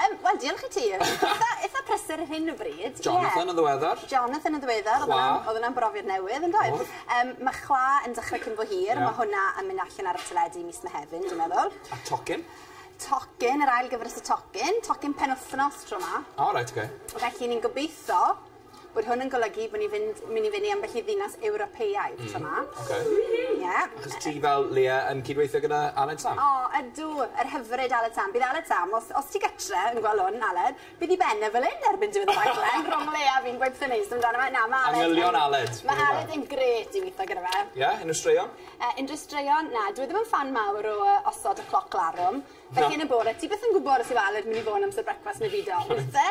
Yym wel diolch i ti. Itha itha prysur ar hyn o bryd. Ie. Jonathan yn ddiweddar. Jonathan yn ddiweddar. Chwa. O'dd wnna'n o'dd wnna'n brofiad newydd yndoedd? O'dd. Yym ma' chwa yn dechre cyn bo hir. Ie. Ma' hwnna yn myn' allan ar y teledu mis Mehefin dwi'n meddwl. A tocyn? Tocyn yr ail gyfres o tocyn. Tocyn penwthnos tro 'ma. O reit oce. Felly ni'n gobitho Bod hwn yn golygu bod ni fynd myn' i fyn' i ambell i ddinas Ewropeaidd tro 'ma. Hmm oce. Ie. Achos ti fel Leah yn cydweithio gyda Aled Sam? O ydw yr hyfryd Aled Sam. Bydd Aled Sam os os ti gytre yn gwel' 'wn Aled bydd 'i ben e fel 'yn erbyn diwedd y rhaglen rhwng Leah a fi'n gweutho neis amdano fe na ma' Aled yn... Angylion Aled. ...ma' Aled yn grêt i witho gyda fe. Ie? Unryw straeon? Yy unryw straeon? Na dwi ddim yn ffan mawr o yy osod y cloc larwm. Na. Felly yn y bore ti byth yn gwbod os yw Aled myn' i fo' 'na amser brecwast ne' byd o. Reit. Wyt te?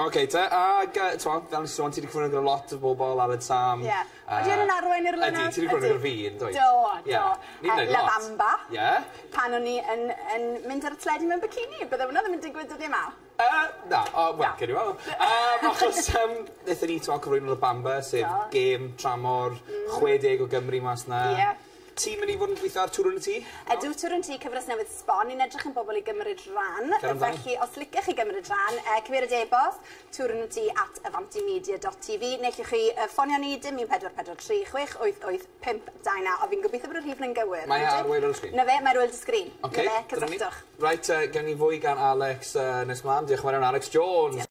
Ok te ag yy t'mo' fel o'n i'n sôn ti 'di cyfwyno gyda lot o bobol ar y Sam. Ie. Yy. Odi wnna'n arwain i'r linach? Ydi ti 'di cyfwyno gyda fi yndwyt? Do do. Ie. Ni'n neud lot. La Bamba. Ie. Pan o'n i yn yn mynd ar y teledu mewn bikini bydde wnna ddim yn digwydd dyddie 'ma. Yy na o wel... Na. ...gewn ni weld. Yym achos yym nethon ni t'mo' cyflwyno La Bamba sef... Do. ...gêm tramor... Hmm. ...chwe deg o Gymry mas 'na. Ie. Ti myn i fod yn gwitho ar Twrwn y Tŷ? Ydw, Twrwn Tŷ, cyfres newydd sbon, ni'n edrych am bobl i gymryd rhan, felly os licech chi gymryd rhan, yy cymeryd e-bost twrwntŷ at avantimedia dot TV, neu llwch chi yy ffonio ni, dim 1443 688 529, a fi'n gobeithio bod y rhif 'na'n gywir. Mae e ar Wŷl ar y Sgrin. 'Na fe, mae ar Wŷl dy Sgrin. Ocê, dyna ni. Cysylltwch. Reit, yy gewn ni fwy gan Alex yy nes mlan. Diolch yn fawr iawn Alex Jones.